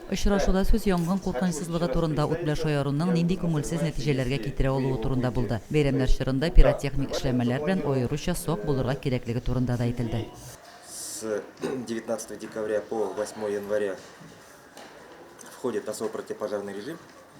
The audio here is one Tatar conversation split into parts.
Очрашуда сүз янгын куркынычсызлыгы турында, ут белән шаяруның нинди күңелсез нәтиҗәләргә китерә алуы турында булды. Бәйрәмнәр чорында пиротехник эшләнмәләр белән аеруча сак булырга кирәклеге турында да әйтелде. С девятнадцатого декабря по восьмое января входит на свой противопожарный режим.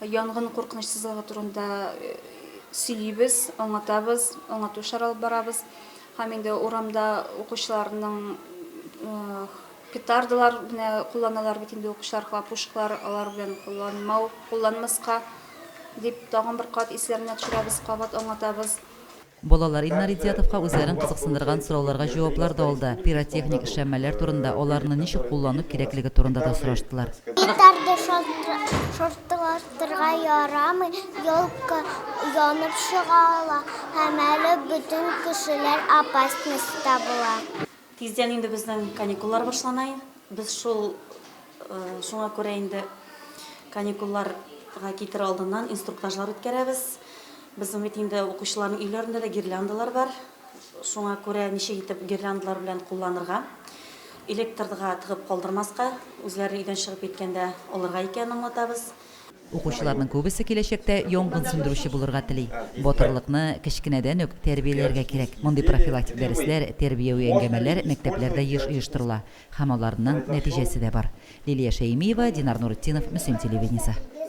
Янгын куркынычсызлыгы турында сөйлибез, аңлатабыз, аңлату эшләре алып барабыз. Һәм инде урамда укучыларның петардалар менә кулланалар бит инде укучылар хлопушкалар алар белән кулланмау кулланмаска дип тагын бер кат исләренә төшерәбез кабат аңлатабыз Балалар Илнар Идиятовка үзләрен кызыксындырган сорауларга җаваплар да алды, пиротехник эшләнмәләр турында, аларны ничек куллану кирәклеге турында да сораштылар. Гитарды шартлатырга ярамый, елка янып чыга ала һәм әле бөтен кешеләр опасностьта була. Тиздән инде безнең каникуллар башлана. Без шул шуңа күрә инде каникулларга китер алдыннан инструктажлар үткәрәбез. Безнең бит инде укучыларның өйләрендә дә гирляндалар бар. Шуңа күрә ничек итеп гирляндалар белән кулланырга, электрга тыгып калдырмаска, үзләре өйдән чыгып киткәндә алырга икәнен аңлатабыз. Укучыларның күбесе киләчәктә янгын сүндерүче булырга тели. Батырлыкны кечкенәдән үк тәрбияләргә кирәк. Мондый профилактик дәресләр, тәрбияви әңгәмәләр мәктәпләрдә еш оештырыла һәм аларның нәтиҗәсе дә бар. Лилия Шәймиева, Динар Нуретдинов, Мөслим телевидениесе.